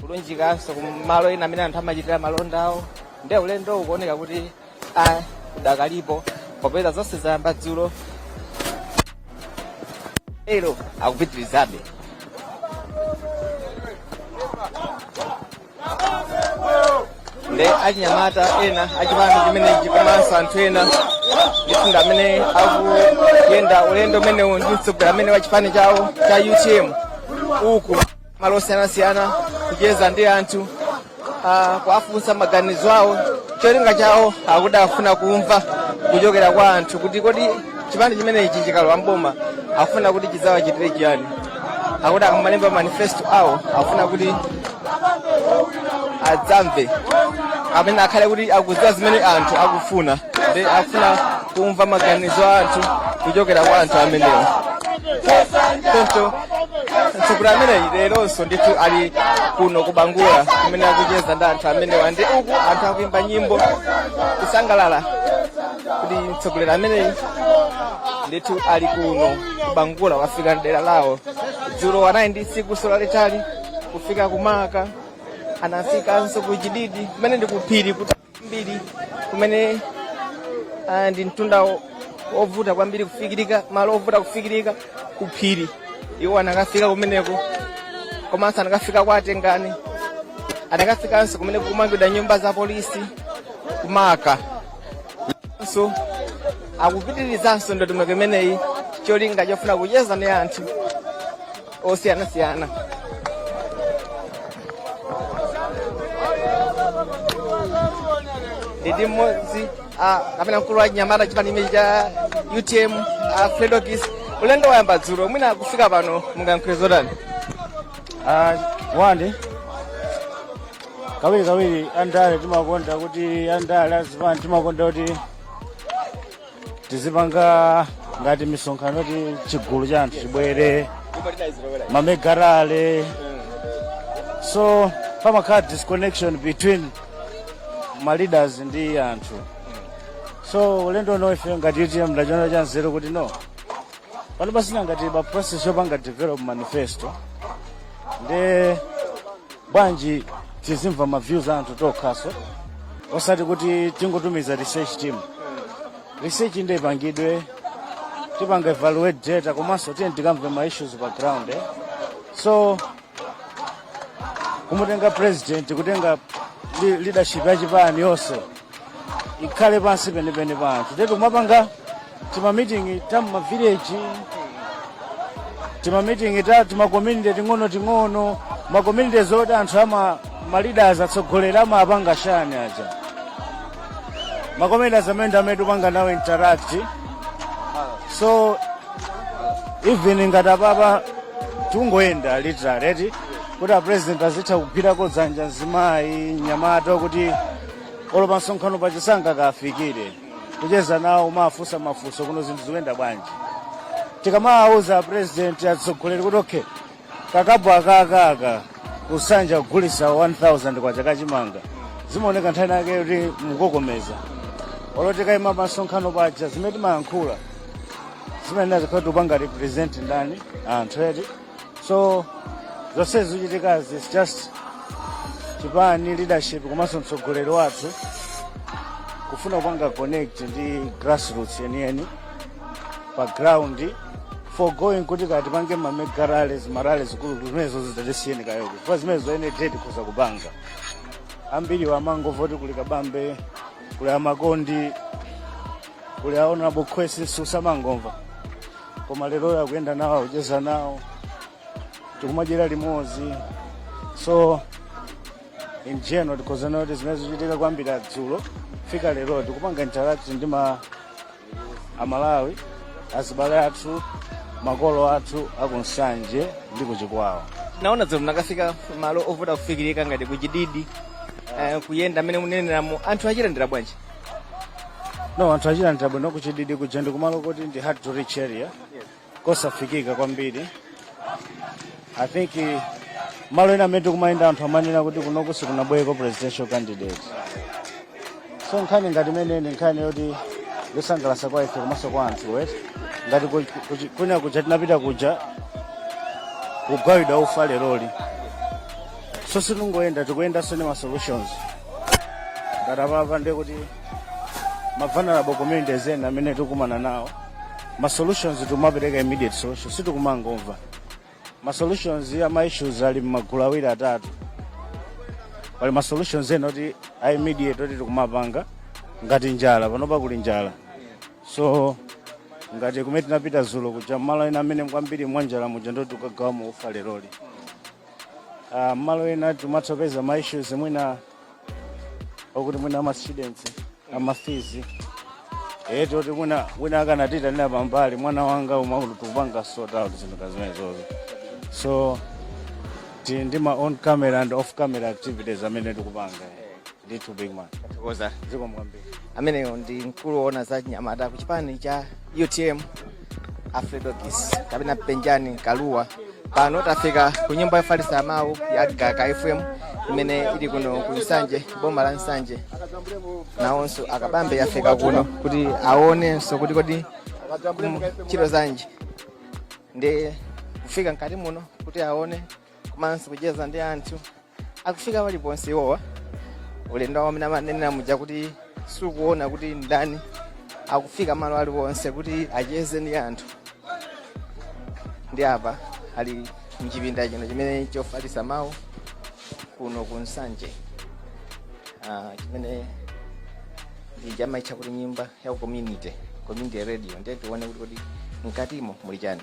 kulunjikanso kumalo ena amene anthu amachitira malonda awo ndiye ulendowu ukuoneka kuti udakalipo popeza zonse zayamba dzulo lero akupitirizabe nde achinyamata ena achipani chimenechi komanso anthu ena ndithu ndamene akuyenda ulendo umenewu ndi mtsogoleri ameneyu wa chipani chawo cha utm uku malo osiyanasiyana kucheza ndi anthu ah, kuwafunsa maganizo awo cholinga chawo akuti afuna kumva kuchokera kwa anthu kuti kodi chipani chimenechi chikalowa mboma afuna kuti chidzawachitire chiyani akuti akamalemba manifesto awo akufuna kuti adzamve amene akhale kuti akudziwa zimene anthu akufuna nde afuna kumva maganizo a anthu kuchokera kwa anthu amenewo choncho mtsogoleri ameneyi leronso ndithu ali kuno kubangula kumene akucheza ndi anthu amenewa ndi uku anthu akuimba nyimbo kusangalala kuti mtsogoleri ameneyi ndithu ali kuno bangula wafika mdera lawo dzulo anali ndi tsikuso lalitali kufika kumaka anafikanso ku chididi kumene ndi kuphiri kwambiri kumene ah, ndi mtunda wo- wovuta kwambiri kufikirika malo ovuta kufikirika kuphiri iwo anakafika kumeneko komanso anakafika kwa Tengani anakafikanso kumene kukumangidwa nyumba za polisi kumaka so akupitirizanso ndondomeko imeneyi cholinga chofuna kucheza ndi anthu osiyanasiyana ndili ndi mmodzi ah, kapena mkulu wa achinyamata chipani chimenechi cha utm ah, fredokis ulendo wayamba dzulo mwina kufika pano mungayankhule zotani Ah, wandi kawiri kawiri andale timakonda kuti andale a zipani timakonda kuti tizipanga ngati misonkhano yoti chigulu cha anthu chibwere ma mega rally so pamakhala disconnection between ma leaders ndi anthu so ulendo uno ife ngati utm tachiona cha nzeru kuti no pano pasina ngati ba process yopanga develop manifesto nde bwanji tizimva ma views a anthu tokhaso osati kuti tingotumiza research team research inde ipangidwe tipanga evaluate data komanso tiyeni tikamve ma issues pa ground eh? so kumatenga president kutenga li- leadership ya chipani yonse ikhale pansi penipeni pali anthu ndetu kumapanga timamitingi ta mmavileji timamitingi ta timakomunite ting'onoting'ono makomunite zoti anthu ama ma leaders atsogoleri amapanga chani aja makomunite amene ndi amene tikupanga nawo interact so even ngati apapa tungoyenda literally eti kuti apresident azitha kugwirako dzanja mzimayi nyamata kuti olo pa msonkhano pachisanga kafikire kucheza nawo kumafunsa mafunso kuno zinthu zikuyenda bwanji tikamawauza apresident atsogoleri kuti okay kakabwa kakaka ku Nsanje kugulitsa 1000 kwacha ka chimanga zimaoneka nthawi zina kuti mukokomeza olo tikayima pamsonkhano paja zimene timayankhula zimenezija zimakhala tikupanga represent ndani anthu eti so zonse zikuchitikazi it's just chipani leadership komanso mtsogoleri wathu kufuna kupanga connect ndi grassroots yeniyeni pa ground forgoing kuti tikapange mamega rally marally zikulukulu zimenezo zidzatisiyeni kayoko chifukwa zimenezo ene date kuza kupanga ambiri amangomva kuti kuli kabambe kuli amakondi kuli a honorable khwesi amangomva koma lero akuyenda nawo akucheza nawo tikumadyera limodzi so in general tikhoza kunena kuti zimene zikuchitika kuyambira dzulo fika lero tikupanga interact ndi ma amalawi azibale athu makolo athu aku Nsanje ndi ku Chikwawa ndinaona dzulo munakafika malo ovuta kufikirika ngati kuchididi eh, kuyenda mmene munayenderamu anthu akutilandira bwanji no anthu akutilandira bwino kuchididi kuja ndi kumalo koti ndi hard to reach area kosafikika kwambiri i think eh, malo ena amene tikumayenda anthu amanena kuti kunoku sikunabwereko presidential candidate so nkhani ngati imene ija nkhani yoti yosangalatsa kwa ife komanso kwa anthu eti ngati ku- kuchi- kwina kuja tinapita kuja kugawidwa ufa leroli so sitingoyenda tikuyendanso ndi ma solutions ngati apapa ndiye kuti ma vulnerable communities ena amene tikukumana nawo ma solutions timapereka immediate solution sitikumangomva ma solutions ama issues ali m'magulu awiri atatu pali ma solutions ena oti a immediate oti tikumapanga ngati njala panopa kuli njala so ngati kumene tinapita dzulo kuja malo ena amene kwambiri mwa njala muja ndiye tikagawamo ufa leroli Ah, mmalo ena tikumathanso kupeza ma issues mwina okuti mwina ama students ama fees eh toti mwina mwina amakatiitanira pambali mwana wanga umaulu tikupanga sort out zinthu ngati zimenezozo so ti ndi ma on camera and off camera activities amene tikupanga ndithu big man tathokoza zikomo kwambiri ameneyo ndi mkulu woona za anyamata ku chipani cha utm a fredokiss kapena penjani kalua pano tafika ku nyumba yofalitsa mawu ya gaka fm imene ili kuno ku nsanje boma la nsanje nawonso a kabambe afika kuno kuti aonenso kuti kodi ntchito zanji ndi kufika mkati muno kuti aone komanso kucheza ndi anthu akufika paliponse iwowa ulendo umene amanenera muja kuti sakuona kuti ndani akufika malo aliwonse kuti acheze ndi anthu ndi apa ali mchipinda chino chimene chofalitsa mawu kuno ku nsanje Ah, chimene ndija amaitcha kuti nyumba ya community community radio ndiye tione kuti kodi mkatimo muli chani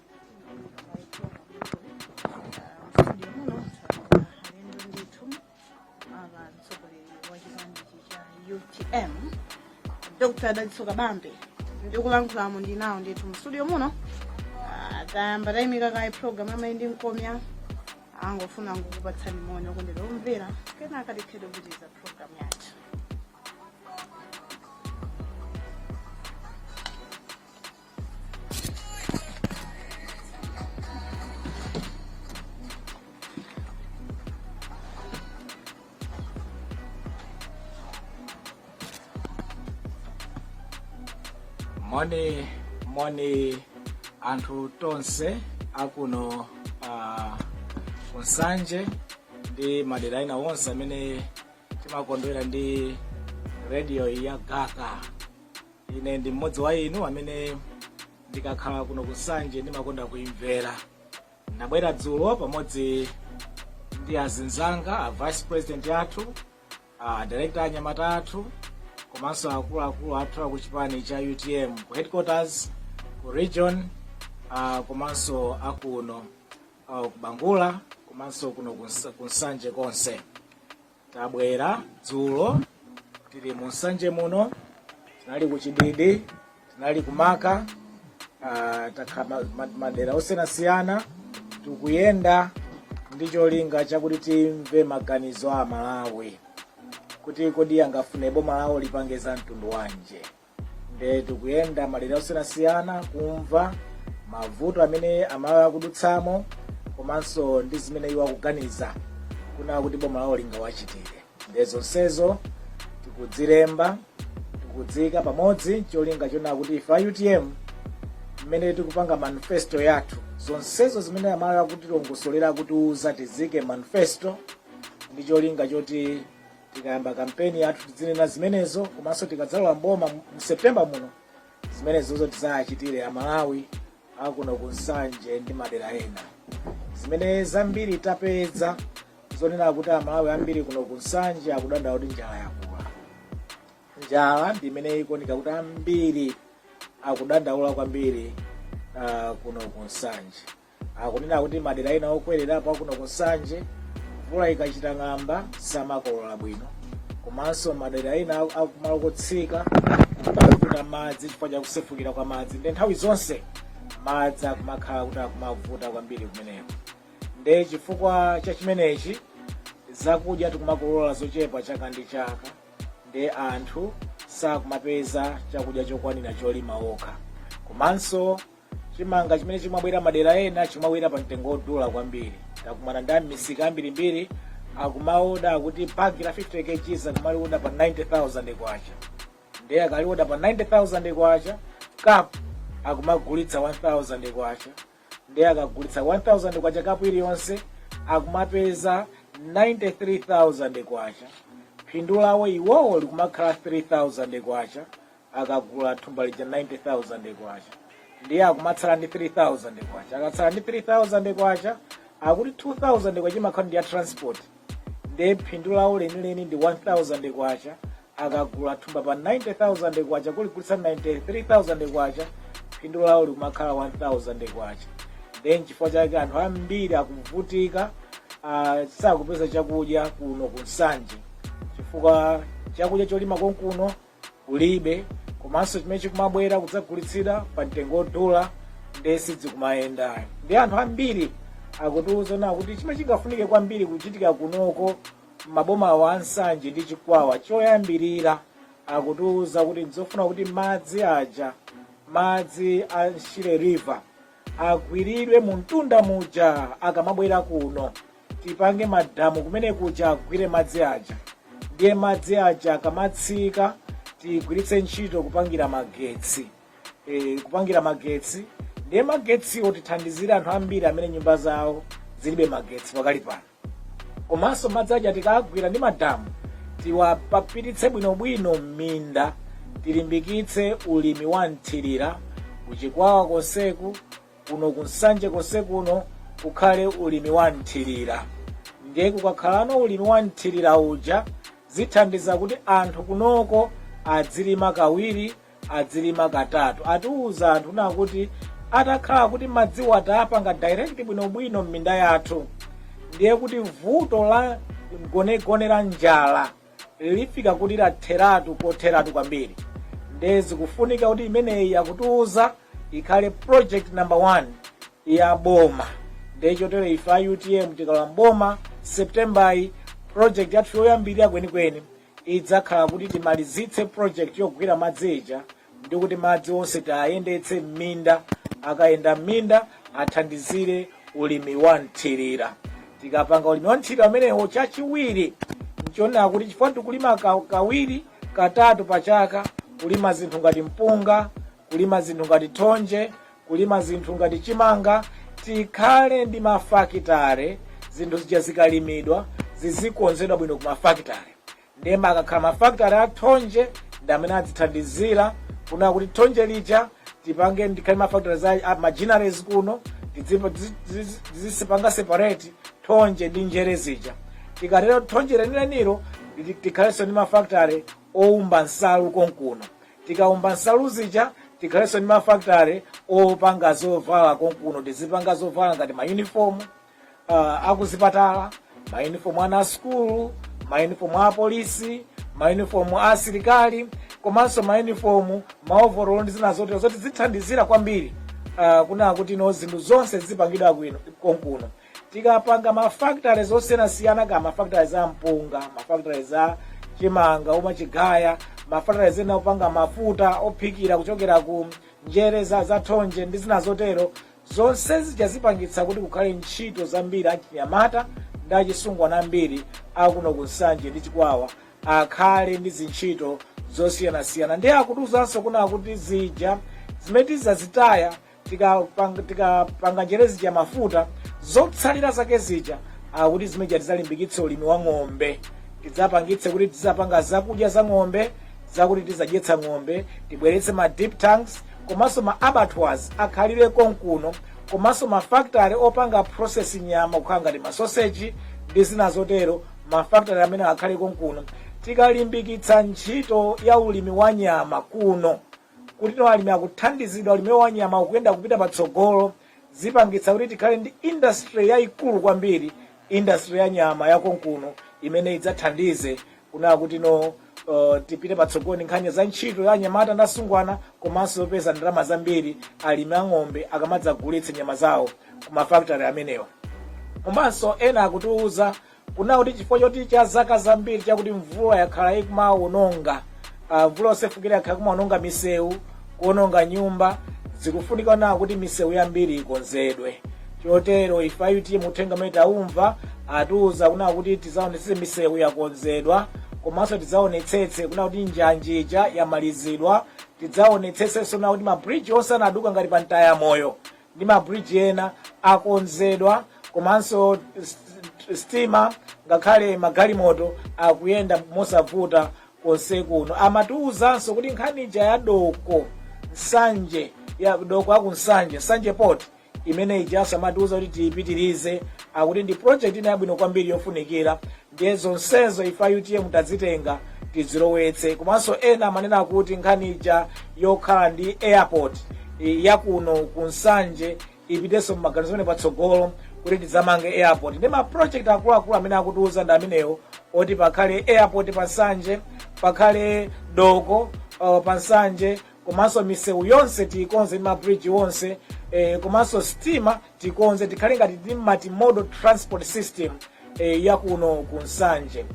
utm dr dalitso kabambe ndikulankhulamo ndinawo ndithu mu studio muno Ah, tayamba tayimika kaye program amayi ndi mkomya angofuna kungokupatsani moni okondedwa omvera kenaka tikhale tikupitiriza program yathu moni moni anthu tonse akuno uh, ku nsanje ndi madera ena onse amene timakondwera ndi radio ya gaka ine ndi mmodzi wa inu amene ndikakhala kuno ku nsanje ndimakonda kuimvera ndabwera dzulo pamodzi ndi azinzanga a vice president athu a director anyamata athu komanso akuluakulu athu aku chipani cha utm ku headquarters ku region uh, komanso akuno uh, ku bangula komanso kuno ku Nsa- ku nsanje konse Tabwera dzulo tili mu Nsanje muno, tinali ku Chididi, tinali ku Marka, ah, takha ma- ma- madera osiyanasiyana tikuyenda ndi cholinga chakuti timve maganizo a Malawi kuti kodi angafune boma lawo lipange za mtundu wanji. nde tikuyenda madera osiyanasiyana kumva mavuto amene amalawi akudutsamo komanso ndi zimene iwo akuganiza kunena kuti boma lawo lingawachitire nde zonsezo tikudzilemba tikudziika pamodzi cholinga chonena kuti ife a utm mmene tikupanga manifesto yathu zonsezo zimene amalawi akutilongosolera akutiuza tiziike mmanifesto ndi cholinga choti tikayamba kampeni yathu tidzinena zimenezo komanso tikadzalowa mboma mu september muno zimenezozo tidzawachitire amalawi akuno ku nsanje ndi madera ena zimene zambiri tapeza zonena kuti amalawi ambiri kuno ku nsanje akudandaula kuti njala yakula njala ndi imene ikuoneka kuti ambiri akudandaula kwambiri uh, kuno ku nsanje akunena kuti madera ena okwererapo akuno ku nsanje mvula ikachita ng'amba samakolola bwino komanso madera ena akumalo kotsika akumavuta madzi chifukwa cha kusefukira kwa madzi nde nthawi zonse madzi akumakhala kuti akumavuta kwambiri kumeneko nde chifukwa cha chimenechi zakudya tikumakolola zochepa chaka ndi chaka nde anthu sakumapeza chakudya chokwanira cholima okha komanso chimanga chimene chimabwera madera ena chimabwera pa mtengo wodula kwambiri takumana ndi amisika ambirimbiri akumaoda akuti bagi la 50 kgs akumalioda pa 90000 kwacha nde akalioda pa 90000 kwacha kapu akumagulitsa 1000 kwacha nde akagulitsa 1000 kwacha kapu iliyonse akumapeza 93000 kwacha phindu lawo iwowo likumakhala 3000 kwacha akagula thumba lija 90000 kwacha ndiye akumatsala ndi 3000 kwacha akatsala ndi 3000 kwacha akuti 2000 kwacha imakhala ndi ya transport ndiye phindu lawo lenileni ndi 1000 kwacha akagula thumba pa 90000 kwacha kuligulitsa 93000 kwacha phindu lawo likumakhala 1000 kwacha ndiye nchifukwa chake anthu ambiri akuvutika ah, sakupeza chakudya kuno ku nsanje chifukwa chakudya cholima konkuno kulibe komanso chimene chikumabwera kudzagulitsidwa pa mtengo wodula ndiye sidzikumayenda ayi ndi anthu ambiri akutiuza kunena kuti chimene chingafunike kwambiri kuchitika kunoko mmaboma awa a nsanje ndi chikwawa choyambirira akutiuza kuti nzofuna kuti madzi aja madzi a shire river agwiridwe kumtunda muja akamabwera kuno tipange madamu kumene kuja agwire madzi aja ndiye madzi aja akamatsika tigwiritse ntchito kupangira magetsi e, kupangira magetsi ndiye magetsiwo tithandizire anthu ambiri amene nyumba zawo zilibe magetsi pakali pano komanso madzi aja tikagwira ndi madamu tiwapapititse bwinobwino m'minda tilimbikitse ulimi wa mthirira kuchikwawa konseku kuno ku nsanje konse kuno kukhale ulimi wa mthirira ndiye kukakhalano ulimi wa mthirira uja zithandiza kuti anthu kunoko adzilima kawiri adzilima katatu atiuza anthu kuna kuti atakhala kuti madziwa titawapanga direct bwinobwino m'minda yathu ndiye kuti vuto la mgonagona la njala lifika kuti latheratu kotheratu kwambiri nde zikufunika kuti imeneyi akutiuza ikhale project number one ya boma nde chotero ife a utm tikalowa mboma septembeyi project yathu yoyambirira kwenikweni idzakhala kuti timalizitse project yogwira madzi ija ndi kuti madzi onse tiayendetse m'minda akayenda m'minda athandizire ulimi wa mthirira tikapanga ulimi wa mthirira umenewo chachiwiri nchonena kuti chifukwa tikulima ka- kawiri katatu pa chaka kulima zinthu ngati mpunga kulima zinthu ngati thonje kulima zinthu ngati chimanga tikhale ndi mafakitare zinthu zija zikalimidwa zizikonzedwa bwino ku mafakitare ndiye mukakhala mafakitale a thonje ndi amene adzithandizira kuna kuti thonje lija tipange tikhale mafakitale za a- machineries kuno tidzipo- tizi- tizi- tizizipanga separate thonje ndi njere zija tikatero thonje lenilenilo liti- tikhalenso ndi mafakitale oumba nsalu konkuno tikaumba nsalu zija tikhalenso ndi mafakitale opanga zovala konkuno tizipanga zovala ngati mayunifomu uh, akuzipatala mauniform a ana a sukulu mauniform a apolisi mauniform a asilikali komanso mauniform maovorolo ndi zina zotero zoti zithandizira kwambiri uh, kuna kuti no zinthu zonse zizipangidwa bwino konkuno tikapanga mafactory zosiyanasiyana ka mafactory za mpunga mafactory za chimanga umachigaya mafactory zina zopanga mafuta ophikira kuchokera ku njere za, za thonje ndi zina zotero Zonse zija zipangitsa kuti kukhale ntchito zambiri achinyamata ndi achisungwana ambiri akuno ku Nsanje ndi Chikwawa akhale ndi zintchito zosiyanasiyana ndiye akutiuzanso kuna kuti zija zimene tizazitaya tikapanga njere zija mafuta zotsalira zake zija akuti zimene zija tizalimbikitse ulimi wa ng'ombe tidzapangitse kuti tizapanga zakudya za ng'ombe zakuti tizadyetsa ng'ombe tibweretse ma dip tanks komanso ma abattoirs akhalire konkuno komanso ma factory opanga process nyama kukhala ngati ma sausage ndi zina zotero ma factory amenewa akhalire konkuno tikalimbikitsa ntchito ya ulimi wa nyama kuno kuti no alimi akuthandizidwa ulimiwo wa nyama ukuyenda kupita patsogolo zipangitsa kuti tikhale ndi industry yaikulu kwambiri, industry ya nyama ya konkuno imene idzathandize kunaa kuti no uh, tipite patsogolo ndi nkhani za ntchito ya anyamata ndi asungwana komanso yopeza ndalama zambiri alimi a ng'ombe akamadzagulitsa nyama zawo ku ma factory amenewa komanso ena akutiwuza kunena kuti chifukwa choti cha zaka zambiri chakuti mvula yakhala ikumawononga ah, mvula yosefukira yakhala ikumawononga misewu kuwononga nyumba zikufunika kunena kuti misewu yambiri ikonzedwe chotero ife a utm uthenga umene taumva atiuza kunena kuti tizaonetsetse misewu yakonzedwa komanso tidzaonetsetse kunena kuti njanji ija yamalizidwa tidzaonetsetsenso kunena kuti mabridge onse anaduka ngati pa mtaya moyo ndi mabridge ena akonzedwa komanso sitima ngakhale magalimoto akuyenda mosavuta konse kuno amatiwuzanso kuti nkhani ija ya doko nsanje ya doko aku nsanje nsanje port imene ijanso amatiwuza kuti tiyipitirize akuti ndi project ina yabwino kwambiri yofunikira ndiye zonsezo ife a utm tadzitenga tidzilowetse komanso ena amanena kuti nkhani ija yokhala ndi airport eh, yakuno ku nsanje ipitenso mmaganizo amenewo patsogolo kuti tidzamange airport ndi ma project akuluakulu amene akutiuza ndi amenewo oti pakhale airport pa nsanje pakhale doko uh, pa nsanje komanso misewu yonse tikonze ndi mabridge onse eh, komanso sitima tikonze tikhale ngati ndi multimodal transport system eh, yakuno ku nsanje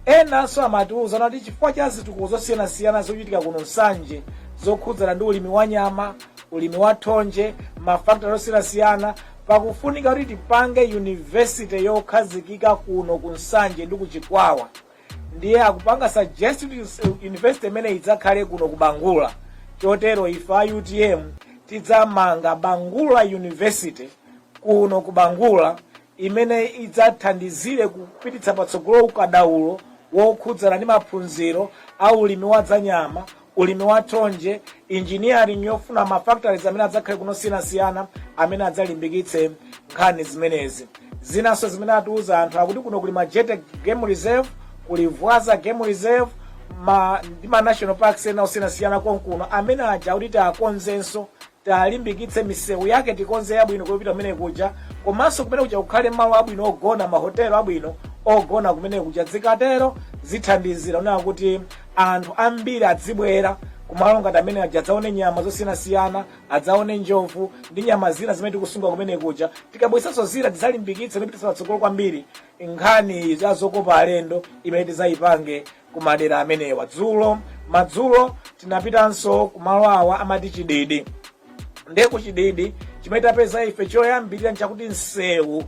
enanso amatiuza kuti chifukwa cha zitukuko zosiyanasiyana zochitika kuno nsanje zokhudzana ndi ulimi wa nyama ulimi wa thonje ma factory osiyanasiyana pakufunika kuti tipange university yokhazikika kuno ku nsanje ndi ku chikwawa ndiye akupanga suggest kuti university imene idzakhale kuno ku bangula chotero ife a utm tidzamanga bangula university kuno ku bangula imene idzathandizire kupititsa patsogolo ukadaulo wokhudzana ndi maphunziro a ulimi wa dzanyama ulimi wa thonje engineering yofuna ma factories amene adzakhale kuno osiyanasiyana amene adzalimbikitse nkhani zimenezi zinanso zimene atiuza anthu akuti kuno kuli majete game reserve kuli vwaza game reserve ma, ndi ma national parks ena osiyanasiyana konkuno amene aja akuti tiakonzenso talimbikitse misewu yake tikonze yabwino kupita kumene kuja komanso kumene kuja kukhale malo abwino ogona mahotelo abwino ogona kumene kuja dzikatero zithandizira kuona kuti anthu ambiri adzibwera kumalo ngati amene aja adzaone nyama zosiyanasiyana adzaone njovu ndi nyama zina zimene tikusunga kumene kuja tikabwesanso zina tidzalimbikitse ndi kupititsa patsogolo kwambiri nkhani za zokopa alendo imene tidzayipange kumadera amenewa dzulo madzulo tinapitanso kumalo awa amati chididi nde ku chididi chimene tapeza ife choyambirira nchakuti msewu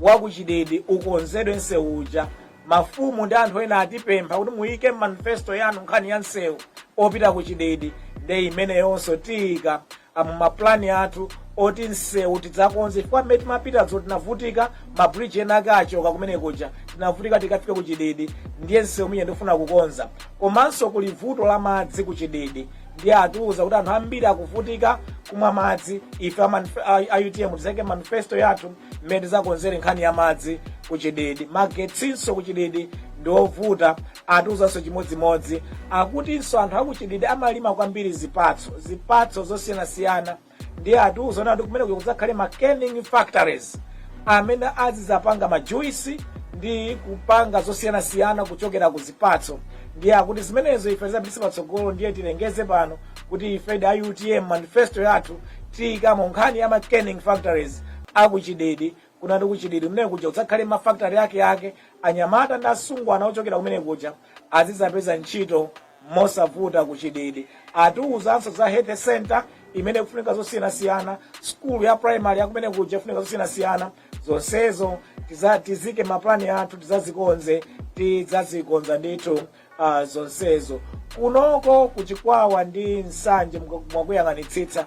wa ku chididi ukonzedwe msewu uja mafumu ndi anthu ena atipempha kuti muyike mmanifesto yanu nkhani ya msewu opita ku chididi nde imeneyonso tiyika mmapulani athu oti msewu tidzakonze chifukwa mmene timapita dzulo tinavutika mabridge ena ake achoka kumene kuja tinavutika kukafika ku chididi ndiye msewu uja tifuna kukonza komanso kuli vuto la madzi ku chididi ndiye atiuza kuti anthu ambiri akuvutika kumwa madzi ife a manif- a- a utm tizaike mmanifesto yathu mmene tizakonzere nkhani ya madzi ku chididi magetsinso ku chididi ndi ovuta atiuzanso chimodzimodzi akutinso anthu akuchididi amalima kwambiri zipatso zipatso zosiyanasiyana ndiye atiuza kuti kumene kuja kudzakhale ma canning factories amene azidzapanga majuisi ndi kupanga zosiyanasiyana kuchokera ku zipatso ndiye akuti zimenezo ife tizapititse patsogolo ndiye tilengeze pano kuti ife a utm manifesto yathu tiyikamo nkhani ya ma canning factories akuchididi kuno ndi kuchididi kumene kuja kudzakhale mafakitale ake ake anyamata ndi asungwana ochokera kumene kuja azidzapeza ntchito mosavuta kuchididi atiuzanso za health center imene kufunika zosiyanasiyana skulu ya primary yakumene kuja kufunika zosiyanasiyana zonsezo tiza- tiziike mmapulani athu tizazikonze tidzazikonza ndithu uh, zonsezo kunoko kuchikwawa ndi nsanje mwa- mwakuyang'anitsitsa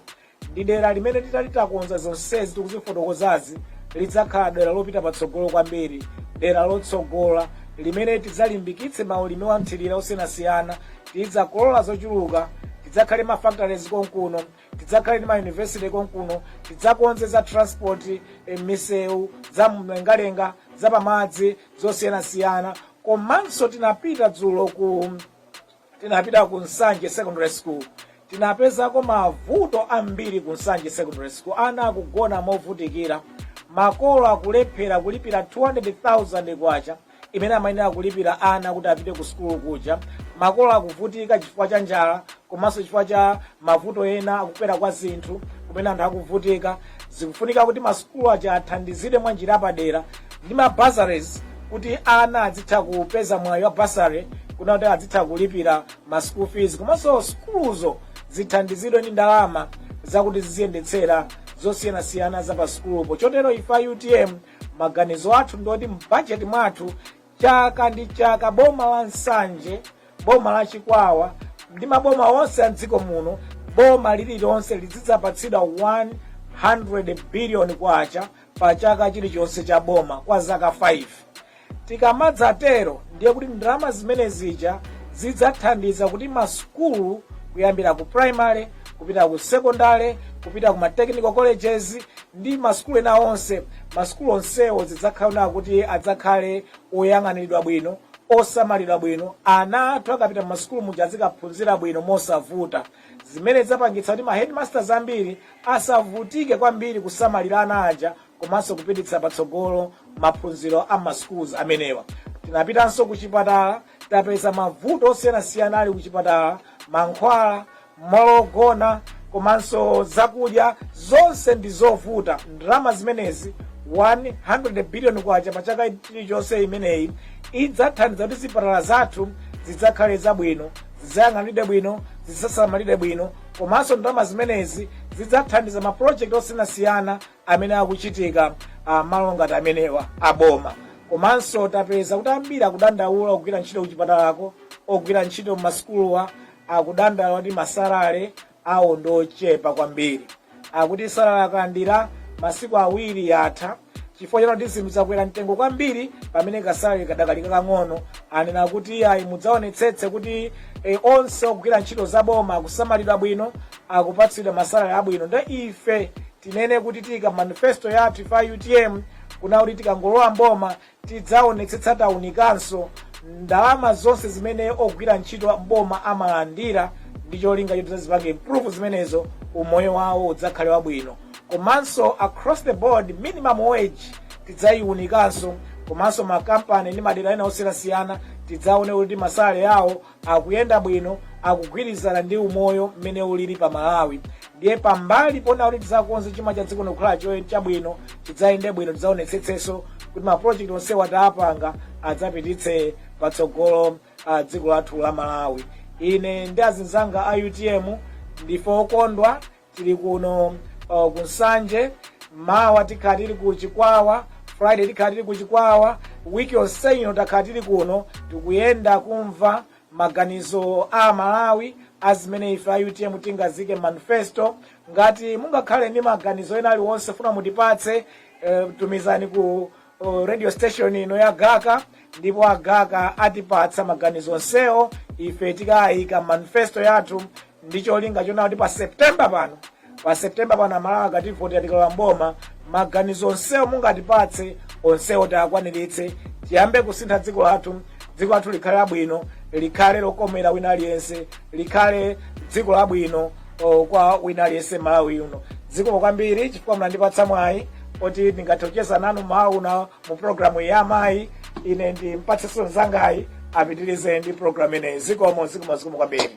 ndi dera limene titati titakonza zonsezi tikuzifotokozazi lidzakhala dera lopita patsogolo kwambiri dera lotsogola limene tidzalimbikitse maulimi wa mthirira osiyanasiyana tidzakolola zochuluka tidzakhale ma factories konkuno tidzakhale ndi ma university konkuno tidzakonze za transport eh, misewu za mlengalenga za pamadzi zosiyanasiyana komanso tinapita dzulo ku tinapita ku nsanje secondary school tinapezako mavuto ambiri ku nsanje secondary school ana akugona movutikira makolo akulephera kulipira 200000 kwacha imene amayenera kulipira ana kuti apite ku sukulu kuja makolo akuvutika chifukwa cha njala komanso chifukwa cha mavuto ena akukwera kwa zinthu kumene anthu akuvutika zikufunika kuti masukulu aja athandizidwe mwa njira yapadera ndi ma bursaries kuti ana adzitha kupeza mwayi wa bursary kuna kuti adzitha kulipira ma school fees komanso sukuluzo zithandizidwe ndi ndalama zakuti ziziyendetsera zosiyanasiyana za pa sukulupo chotero ife utm maganizo athu ndi oti mbajeti mwathu chaka ndi chaka boma la nsanje boma la chikwawa ndi maboma onse a mdziko muno boma lililonse lizidzapatsidwa 100 billion kwacha pa chaka chilichonse cha boma kwa zaka 5. Tikamadzatero ndiye kuti ndalama zimene zija zidzathandiza kuti masukulu kuyambira ku primary kupita ku secondary kupita ku ma technical colleges ndi masukulu ena onse masukulu onsewo zidzakhala kuti adzakhale oyang'aniridwa bwino osamalidwa bwino ana athu akapita mu masukulu muja azikaphunzira bwino mosavuta zimenezi zidzapangitsa kuti ma headmasters ambiri asavutike kwambiri kusamalira ana aja komanso kupititsa patsogolo maphunziro a ma schools amenewa tinapitanso ku chipatala tapeza mavuto osiyanasiyana ali ku chipatala mankhwala malo ogona komanso zakudya zonse ndi zovuta ndalama zimenezi 100 billion kwacha pa chaka chilichonse imeneyi idzathandiza kuti zipatala zathu zidzakhale zabwino zidzayang'aniridwe bwino zidzasamalidwe bwino komanso ndalama zimenezi zidzathandiza mapulojekiti osiyanasiyana amene akuchitika ah, malo ngati amenewa aboma komanso tapeza kuti ambiri akudandaula ogwira ntchito kuchipatalako ogwira ntchito m'masukuluwa akudandaula kuti masalale awo ndi ochepa kwambiri. Akuti salale akalandira masiku awiri yatha chifukwa chona kuti zinthu zakwera mtengo kwambiri pamene kasalale kadakali kakang'ono. Anena kuti iyayi mudzaonetsetse kuti e, onse ogwira ntchito za boma akusamalidwa bwino akupatsidwa masalale abwino nde ife tinene kuti tiika mmanifesto yathu ife a utm kuna kuti tikangolowa mboma Tidzaonetsetsa taunikanso ndalama zonse zimene ogwira ntchito m'boma amalandira ndi cholinga choti tidzazipange improve zimenezo, umoyo wawo udzakhale wabwino. Komanso across the board minimum wage tidzaiunikanso komanso makampani ndi madera ena osiyanasiyana tidzaone kuti masalary awo akuyenda bwino akugwirizana ndi umoyo mmene ulili pa malawi ndiye pambali pona kuti tidzakonze chuma cha dziko ndikukhala chabwino chidzayende bwino tidzaonetsetsenso kuti ma project onsewa tapanga adzapititse patsogolo a dziko lathu la malawi ine ndi azinzanga a utm ndife okondwa tili kuno uh, ku nsanje mawa tikhala tili ku chikwawa friday tikhala tili ku chikwawa wiki yonse ino takhala tili kuno tikuyenda kumva maganizo a malawi a zimene ife a utm tingaziike mmanifesto ngati mungakhale ndi maganizo ena aliwonse funa mutipatse eh, tumizani ku ku radio station ino ya gaka ndipo agaka atipatsa maganizo onsewo ife tikayika mmanifesto yathu ndi cholinga chonena kuti pa septemba pano pa septemba pano amalawi akativotera tikalowa mboma maganizo onsewo mungatipatse onsewo tiakwaniritse tiyambe kusintha dziko lathu dziko lathu likhale labwino likhale lokomera wina aliyense likhale dziko labwino o, kwa wina aliyense mmalawi muno zikomo kwambiri chifukwa munandipatsa mwayi oti ndingathe kucheza nanu mmawa uno mu programu ya amayi ine ndi mpatsenso mzangayi apitirize ndi programu imeneyi zikomo zikomo zikomo kwambiri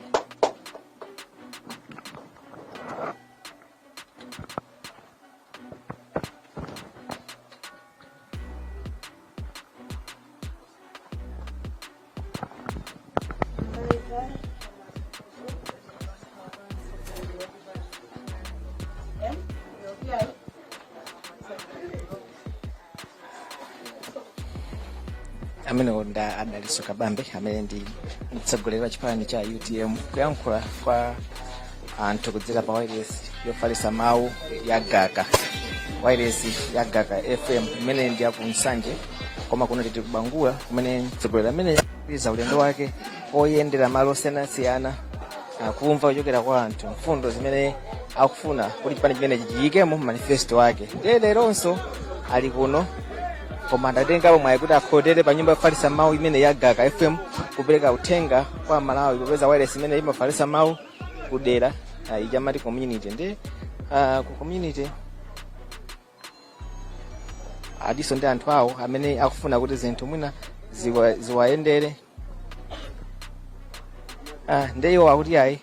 amenewo ndi a dalitso kabambe amene ndi mtsogoleri wa chipani cha utm kuyankhula kwa anthu kudzera pa wailesi yofalitsa mawu ya gaka wailesi ya gaka fm imene ndi yaku nsanje koma kuno titi kubangula kumene mtsogoleri ameneyu akupitiriza ulendo wake oyendera malo osiyanasiyana kumva kuchokera kwa anthu mfundo zimene akufuna kuti chipani chimenechi chiyike mu manifesto wake ndiye leronso ali kuno koma adatengapo mwayi kuti akhotere pa nyumba yofalitsa mawu imeneyi ya gaka fm kupereka uthenga kwa amalawi popeza wailesi imeneyi imafalitsa mawu kudera ah, ija mati community ndi ah, ku community adiso ndi anthu awo amene akufuna kuti zinthu mwina ziwa- ziwayendere Ah, ndi iwo akuti ayi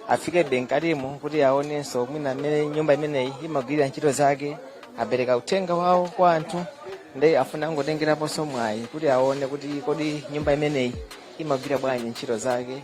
afike be mkatimo kuti aonenso mwina mmene nyumba imeneyi imagwirira ntchito zake apereka uthenga wawo kwa anthu ndi afuna angotengeraponso mwayi kuti aone kuti kodi nyumba imeneyi imagwira bwanji ntchito zake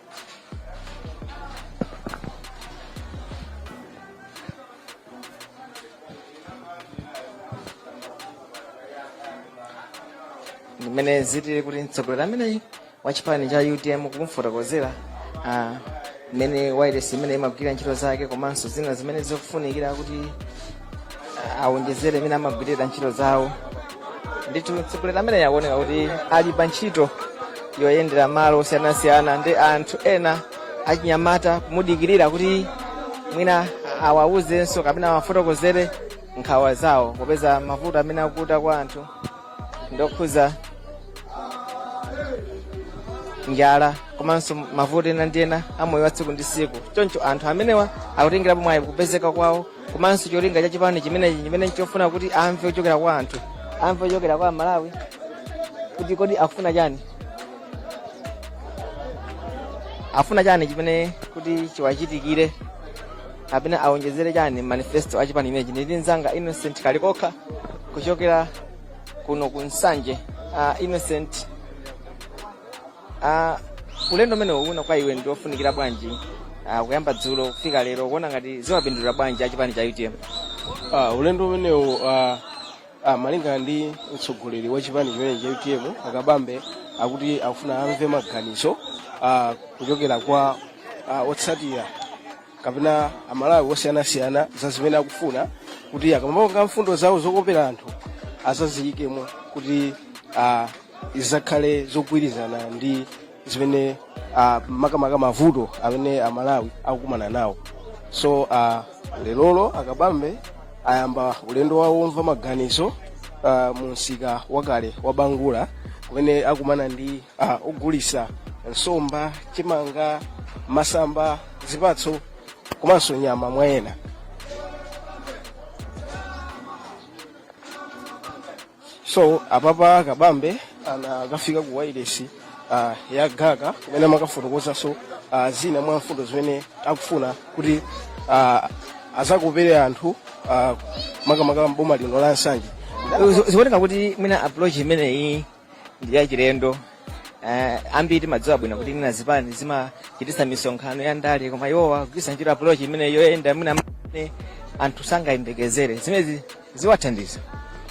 ndi mmene ziliri kuti mtsogoleri ameneyi wa chipani cha utm kumfotokozera ah, mmene wailesi imeneyi imagwirira ntchito zake komanso zina zimene zikufunikira kuti ah, awonjezere mmene amagwirira ntchito zawo ndithu mtsogoleri ameneyo akuoneka kuti ali pa ntchito yoyendera malo osiyanasiyana ndi anthu ena achinyamata kumudikirira kuti mwina awawuzenso kapena awafotokozere nkhawa zawo popeza mavuto amene akuta anthu ndokhuza njala komanso mavuto ena ndi ena amoyo wa tsiku ndi tsiku choncho anthu amenewa akutengerapo mwayi kupezeka kwawo komanso cholinga cha chipani chimenechi chimene nchofuna kuti amve kuchokera kwa anthu amve kuchokera kwa amalawi kuti kodi afuna chani afuna chani chimene kuti chiwachitikire kapena awonjezere chani mmanifesto a chipani chimenechi ndili ndi mzanga innocent kalikokha kuchokera kuno ku nsanje uh, innocent Uh, ulendo umenewu ukuona kwa iwe ndiofunikira bwanji uh, kuyamba dzulo kufika lero ukuona ngati ziwapindulira bwanji achipani cha utm uh, ulendo umenewu uh, uh, malinga ndi mtsogoleri wa chipani chimenechi cha utm a kabambe akuti akufuna amve maganizo uh, kuchokera kwa uh, otsatira kapena amalawi osiyanasiyana za zimene akufuna kuti akamapanga mfundo zawo zokopera anthu azaziyikemo kuti uh, zizakhale zogwirizana ndi zimene uh, makamaka mavuto amene amalawi akukumana nawo so uh, lerolo a kabambe ayamba ulendo wawo womva maganizo uh, mu msika wakale wa bangula kumene akumana ndi uh, ogulitsa nsomba chimanga masamba zipatso komanso nyama mwa ena so apapa a kabambe anakafika ku wailesi uh, ya gaka kumene amakafotokozanso uh, zina mwa mfundo zimene akufuna kuti uh, azakopere anthu uh, makamaka mboma lino la nsanje zikuoneka kuti mwina approach imeneyi ndi yachilendo Eh, ambiri timadziwa bwino kuti mwina zipani zimachititsa misonkhano ya ndale koma iwowa kugwiritsa ntchito approach imeneyi yoyenda mwina mmene anthu sangayembekezere zimenezi ziwathandiza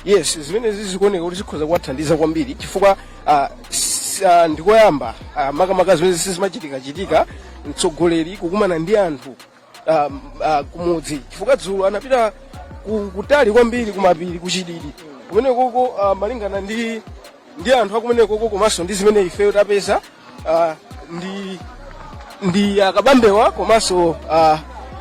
yes zimenezi zikuoneka kuti zikhoza kuwathandiza kwambiri chifukwa ah, s- ah, ndikoyamba ah, makamaka zimene sizimachitika chitika mtsogoleri kukumana ndi anthu ah, ah, kumudzi chifukwa dzulo anapita ku- kutali kwambiri kumapiri kuchididi kumenekoko ah, malingana ndi ndi anthu akumenekoko komanso ndi zimene ifeyo tapeza ah, ndi ndi a kabambewa komanso ah,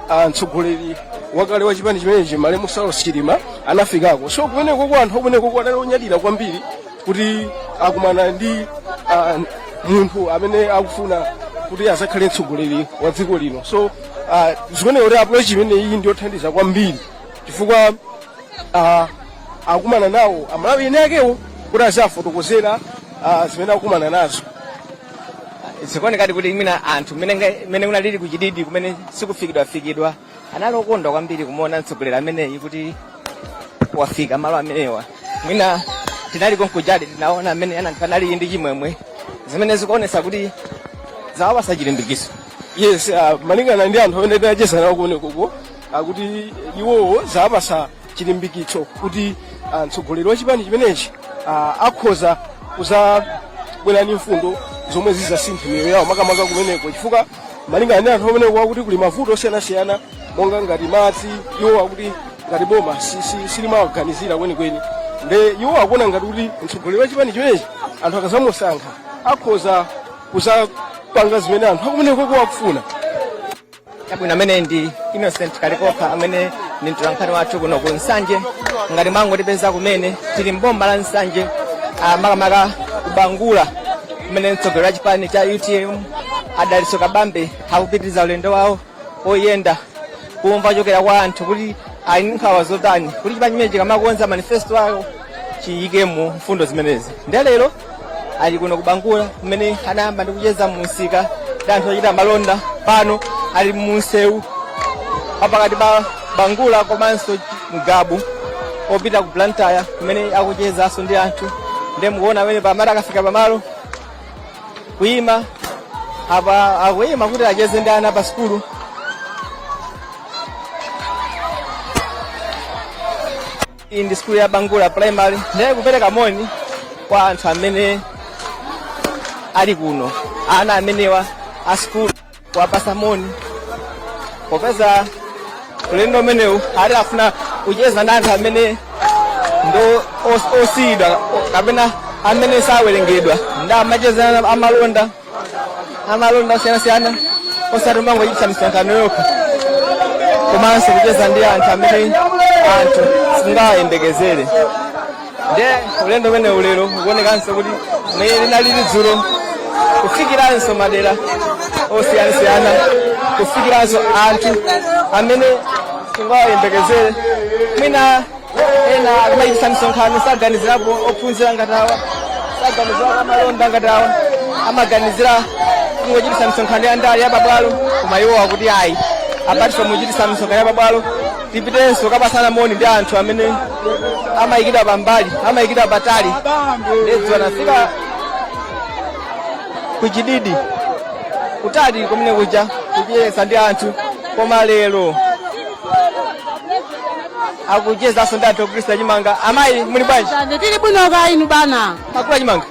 ah, mtsogoleri wakale wa chipani chimenechi malemu saulos chilima anafikako so kumenekoko anthu akumenekoko anali onyadira kwambiri kuti akumana ndi ah, munthu amene akufuna kuti azakhale mtsogoleri wa dziko lino so ah, zikuoneka kuti approach imeneyi ndi yothandiza kwambiri chifukwa ah, akumana nawo amalawi ene akewo kuti aziwafotokozera ah, zimene akumana nazo zikuonekadi kuti mwina anthu mmene nga- mmene kunalili kuchididi kumene sikufikidwafikidwa anali okondwa kwambiri kumuona mtsogoleri ameneyi kuti wafika malo amenewa mwina tinali konkujadi tinaona amene anali ndi chimwemwe zimene zikuonesa kuti zawapasa chilimbikitso yes uh, malingana ndi anthu amene tinacheza nawo kumenekoko akuti iwowo zawapasa chilimbikitso kuti ah, mtsogoleri wa chipani chimenechi ah, akhoza kuzabwera ndi mfundo zomwe zizasintha miyoyo yawo makamaka kumeneko chifukwa malingana ndi anthu ameneko akuti kuli mavuto osiyanasiyana monga ngati madzi iwo akuti ngati boma si- si- silimawaganizira kwenikweni nde iwo akuona ngati kuti mtsogoleri wa chipani chimenechi anthu akazamusankha akhoza kuzapanga zimene anthu akumeneko akufuna chabwino ameneyo ndi innocent kalikokha amene ndi mtolankhani wathu kuno ku nsanje ngati mwangotipeza kumene tili mboma la nsanje ah, makamaka kubangula kumene mtsogoleri wa chipani cha utm a dalitso kabambe akupitiriza ulendo wawo oyenda kumva kuchokera kwa anthu kuti ali ndi nkhawa zotani kuti chipani chimenechi chikamakonza manifesto awo chiyikemo mfundo zimenezi nde lero ali kuno kubangula kumene anayamba ndi kucheza mu msika ndi anthu ochita malonda pano ali mu msewu wapakati pa bangula komanso Ngabu opita ku Blantyre kumene akuchezanso ndi anthu ndiye mukuona mmene pamati akafika pamalo kuyima apa akuyima kuti acheze ndi ana pa sukulu iyi ndi sukulu ya Bangula primary ndiye kupereka moni kwa anthu amene ali kuno ana amenewa a sukulu kuwapasa moni popeza ulendo umenewu ati afuna kucheza ndi anthu amene ndo os- osiyidwa o- kapena amene sawerengedwa nde amacheza na amalonda amalonda osiyanasiyana osati kumangochititsa misonkhano yokha komanso kucheza ndi anthu amene anthu singawayembekezere nde ulendo umenewu lero ukuonekanso kuti mmene linalili dzulo kufikiranso madera osiyanasiyana kufikiranso anthu amene singawayembekezere mwina ena amachitisa misonkhano saganizirapo ophunzira ngati awa saganizirapo amalonda ngati awa amaganizira kungochitisa misonkhano ya ndale ya pabwalo koma iwo akuti ayi apart from kuchitisa misonkhano ya pabwalo tipitenso kukapasana moni ndi anthu amene amayikidwa pambali amayikidwa patali dzana anafika kuchididi kutali kumene kuja kucheza ndi anthu koma lero akuchezanso ndi anthu ogulitsa chimanga amayi muli bwanji tili bwino kaya inu bana mwagula chimanga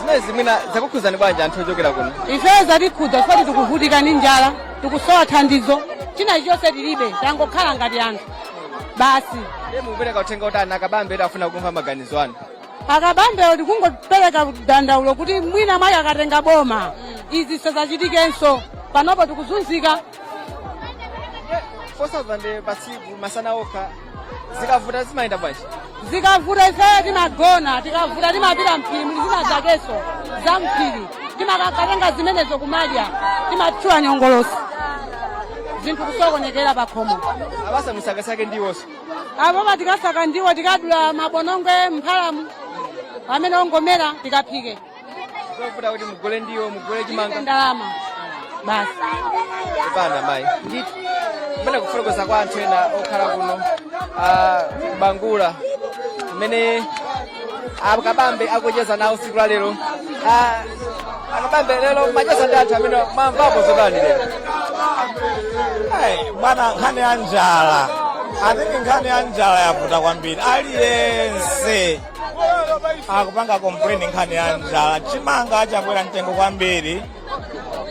zimenezi mwina zakukhuzani bwanji anthu ochokera kuno ifeyo zatikhuza zoti tikuvutika ndi njala tikusowa thandizo china chilichonse tilibe tangokhala ngati anthu basi ndiye mukupereka uthenga utani akabambe eti afuna kumva maganizo anu akabambewo tikungopereka dandaulo kuti mwina mwayi akatenga boma izi sizachitikenso panopo tikuzunzika 4000 pasiku masana okha zikavuta zimayenda bwanji zikavuta ifeyo timagona tikavuta timapita mphiri muli zina zakenso za mphiri timakakatenga zimenezo kumadya timatchula nyongolosi zinthu kusokonekera pakhomo abasa musakasake ndiwonso apopa tikasaka ndiwo tikadula mabonongwe mphalamu amene ongomera tikaphike zovuta kuti mugule ndiwo mugule chimanga ndalama basi kupanda mayi ndithu kumene kufotokoza kwa anthu ena okhala kuno ah, ku Bangula kumene akabambe akucheza nawo siku la lero Ah, akabambe lero macheza ndi anthu amene mwamvapo zotani lero Hey, bwana nkhani ya njala atate nkhani ya njala yavuta kwambiri aliyense akupanga kompleni nkhani ya njala chimanga chakwera mtengo kwambiri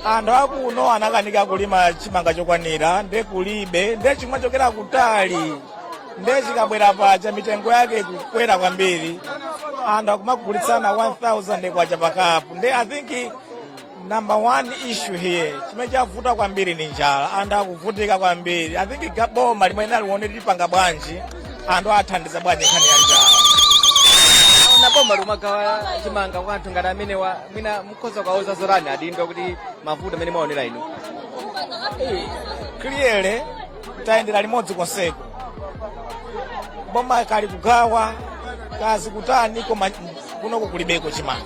anthu akuno anakanika kulima chimanga chokwanira nde kulibe nde chikumachokera kutali nde chikabwera paja mitengo yake kukwera kwambiri anthu akumagulitsana 1000 kwacha pakapu nde i think Number one issue here chimene chavuta kwambiri ni njala, anthu akuvutika kwambiri. I think ga- boma limene aliwone lipanga bwanji anthu athandiza bwanji nkhani ya njala. nanga boma likumagawa chimanga kwa anthu ngati amenewa mwina mukhoza kuwauza zotani adindo kuti mavuto amene mwaonera inu Clearly tayendera limodzi konseko, boma kaya likugawa kaya likutani koma kunoko kulibeko chimanga.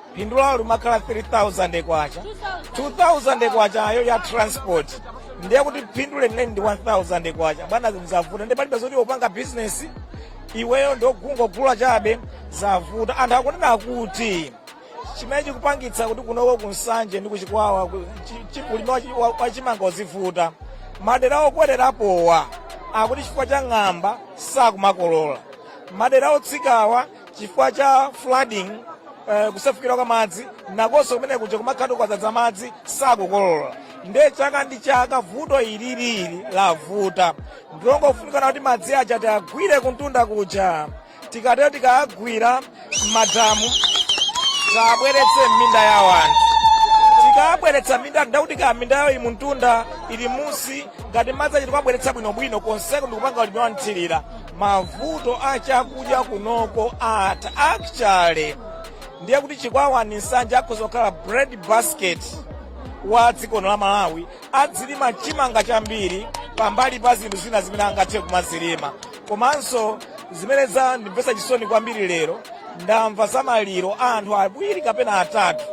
phindu lawo limakhala 3000 kwacha 2000 kwachayo ya transport ndiye kuti phindu lenileni ndi 1000 kwacha bwana zinthu zavuta ndi palibe zoti upanga bizinesi iweyo ndi ongogula chabe zavuta anthu akunena kuti chimene chikupangitsa kuti kunoko ku Nsanje ndi ku Chikwawa ku- chi- chi- ulimi wa chi- wa- wa chimanga uzivuta madera okwererapowa akuti chifukwa cha ng'amba sakumakolola madera otsikawa chifukwa cha flooding eh, kusefukira kwa madzi nakonso kumene kuja kumakhala kwadzadza madzi sakukolola nde chaka ndi chaka vuto ililili lavuta ndilongofunikana kuti madzi aja tiagwire kuntunda kuja tikatero tikaagwira m'madamu tiwabweretse m'minda ya anthu tikabweretsa minda ndekuti kaya mindayo ili kuntunda ili musi ngati madzi aja tikuwabweretsa bwinobwino konseko ndikupanga ulimi wanthirira mavuto a chakudya kunoko atha actually ndiye kuti chikwawa ni nsanje akhoza kukhala bread basket wa dziko la malawi adzilima chimanga chambiri pambali pa zinthu zina zimene angathe kumazilima komanso zimene zandimvetsa chisoni kwambiri lero ndamva za maliro a anthu awiri kapena atatu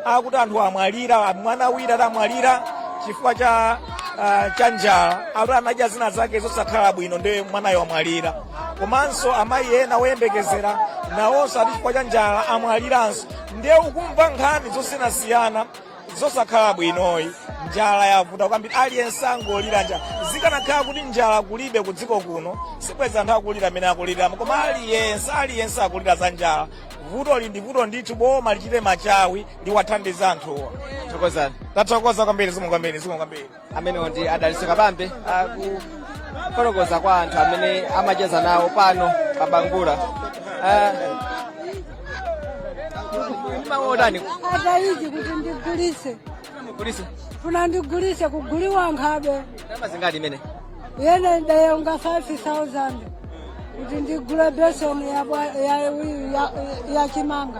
akuti anthu amwalira mwana wina adamwalira chifukwa cha ah, cha njala akuti anadya zina zake zosakhala bwino ndiye mwanayo amwalira komanso amayi ena oyembekezera nawonso ati chifukwa cha njala amwaliranso ndiye ukumva nkhani zosiyanasiyana zosakhala bwinoyi njala yavuta kwambiri aliyense angolira njala zikanakhala kuti njala kulibe ku dziko kuno sibwenzi anthu akulira mmene akuliliramo koma aliyense aliyense akulira za njala vuto ili ndi vuto ndithu boma lichite machawi liwathandize anthuwa thokozani tathokoza kwambiri zikomo kwambiri zikomo kwambiri amenewo ndi a daliso kabambe akufotokoza kwa anthu amene amacheza nawo pano pa bangula Ah, mawu otani atayizi kuti ndigulise mugulise funa ndigulise kuguliwa nkhabe ndalama zingati imene yene ndayonga 5000 kuti ndigule beseni ya bwa- ya- ya- ya chimanga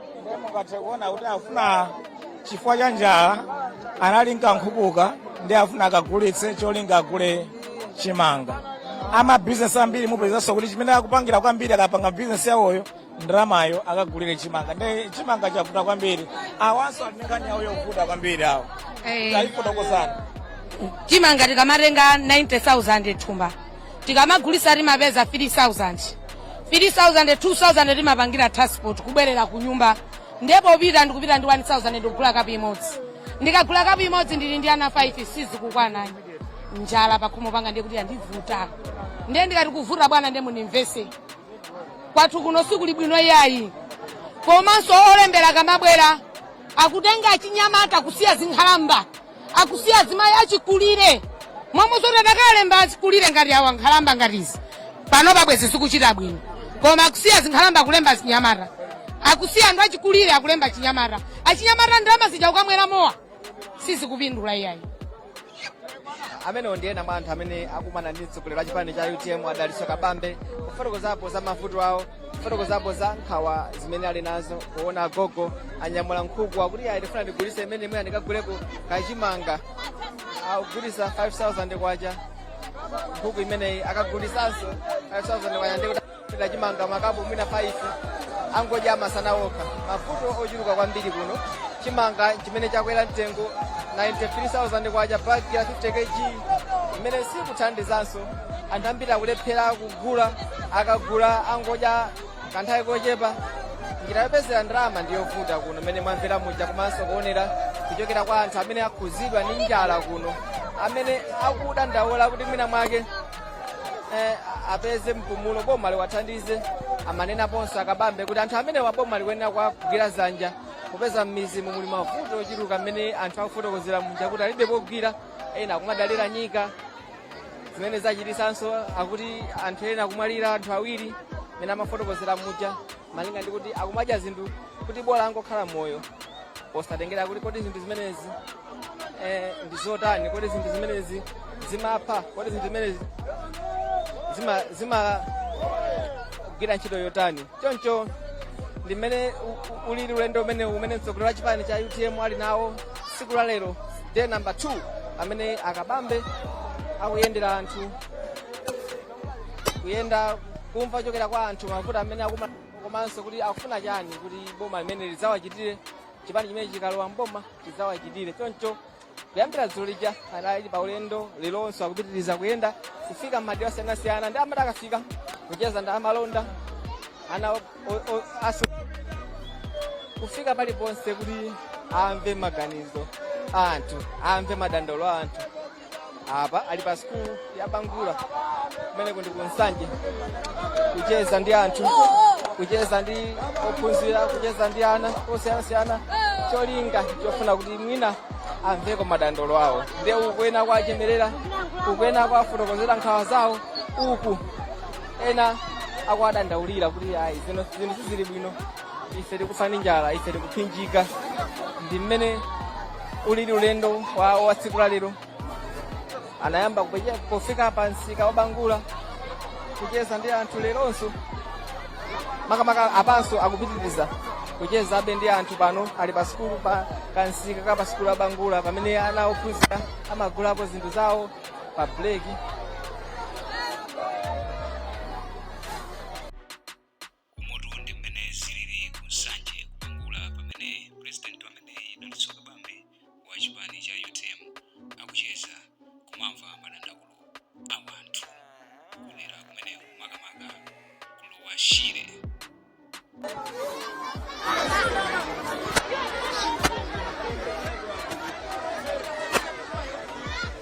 nde mungathe kuona kuti afuna chifukwa cha njala anali nkankhukuka ndi afuna akagulitse cholinga agule chimanga amabizinesi ambiri mupezanso kuti chimene akupangira kwambiri akapanga bizinesi yawoyo ndalamayo akagulire chimanga nde chimanga chavuta kwambiri awanso ali ndi nkhani yawo yovuta kwambiri awo Eh. taifotokozani chimanga tikamatenga 90000 thumba tikamagulisa timapeza 3000 3000 2000 timapangira transport kubwerera ku nyumba ndiye popita ndikupita ndi 1000 ndikugula kapu imodzi ndikagula kapu imodzi ndili ndi ana 5 sizikukwana njala pakhomo panga ndiye kuti yandivuta ndiye ndikati kuvuta bwana ndiye munimvese kwathu kuno sikuli bwino iyayi komanso olembera akamabwera akutenga achinyamata kusiya zinkhalamba akusiya azimayi achikulire momwe zoti atakalemba achikulire ngati awa nkhalamba ngati izi pano bwezi zikuchita bwino koma akusiya zinkhalamba akulemba azinyamata akusiya anthu achikulire akulemba achinyamata achinyamata ndalama zija kukamwera mowa sizikupindula iyayi amenewo ndi ena mwa anthu amene akumana ndi mtsogoleri wa chipani cha utm a daliso kabambe kufotokozapo za mavuto awo fotokozapo za nkhawa zimene ali nazo kuona agogo anyamula nkhuku akuti ayi ndifuna ndigulise imene imene andikaguleko kachimanga akugulisa 5000 kwacha nkhuku imeneyi akagulisanso 5000 kwacha ndikuti kachimanga makapu mwina 5 angodya masana okha mavuto ochuluka kwambiri kuno chimanga chimene chakwera mtengo 93000 kwacha bagi ya 50 kg imene sikuthandizanso anthu ambiri akulephera kugula akagula angodya kanthawi kochepa njira yopezera ndalama ndi yovuta kuno mmene mwamvera muja komanso kuonera kuchokera kwa anthu amene akhuzidwa ndi njala kuno amene akudandaula kuti mwina mwake eh, apeze mpumulo boma liwathandize amanenaponso akabambe kuti anthu amene wa boma likuyenera kuwagwira zanja popeza m'mizi muli mavuto ochuluka mmene anthu akufotokozera muja kuti alibe pogwira ena akumadalira nyika zimene zachititsanso akuti anthu ena akumwalira anthu awiri mmene amafotokozera muja malinga ndi kuti akumadya zinthu kuti bola angokhala moyo osatengera kuti kodi zinthu zimenezi eh, ndi zotani kodi zinthu zimenezi zimapha kodi zinthu zimenezi zima zimagwira ntchito yotani choncho ndi mmene u- u- ulili ulendo umene umene mtsogoleri wa chipani cha utm ali nawo tsiku la lero day number 2 amene akabambe akuyendera anthu kuyenda kumva kuchokera kwa anthu mavuto amene akuma komanso kuti akufuna chani kuti boma limene lidzawachitire chipani chimene chikalowa mboma chidzawachitire choncho kuyambira dzulo lija anali pa ulendo leronso akupitiriza kuyenda kufika m'madera osiyanasiyana ndi amati akafika kucheza ndi amalonda ana o- o- o- asu kufika paliponse kuti amve maganizo a anthu amve madandaulo a anthu apa ali pa sikulu ya bangula kumene ndi kunsanje kucheza ndi anthu kucheza ndi ophunzira kucheza ndi ana osiyanasiyana cholinga chofuna kuti mwina amveko madandaulo awo ndiye uku ena akuwachemerera uku ena akuwafotokozera nkhawa zawo uku ena akuwadandaulira kuti ayi zino zinthu sizili bwino ife tikufa ndi njala ife tikuphinjika ndi mmene ulili ulendo wa wa tsiku la lero anayamba kupeja- kufika pa msika wa bangula kucheza ndi anthu leronso makamaka apanso akupitiriza kuchezabe ndi anthu pano ali pa sikulu pa kamsika ka pa sikulu ya bangula pamene ana ophunzira amagulapo zinthu zawo pa break umotu ndi mmene zilili ku nsanje kubangula pamene president ameneyu dalitso kabambe wa chipani cha utm akucheza kumamva madandaulo a wanthu kudera kumene makamaka ku lower shire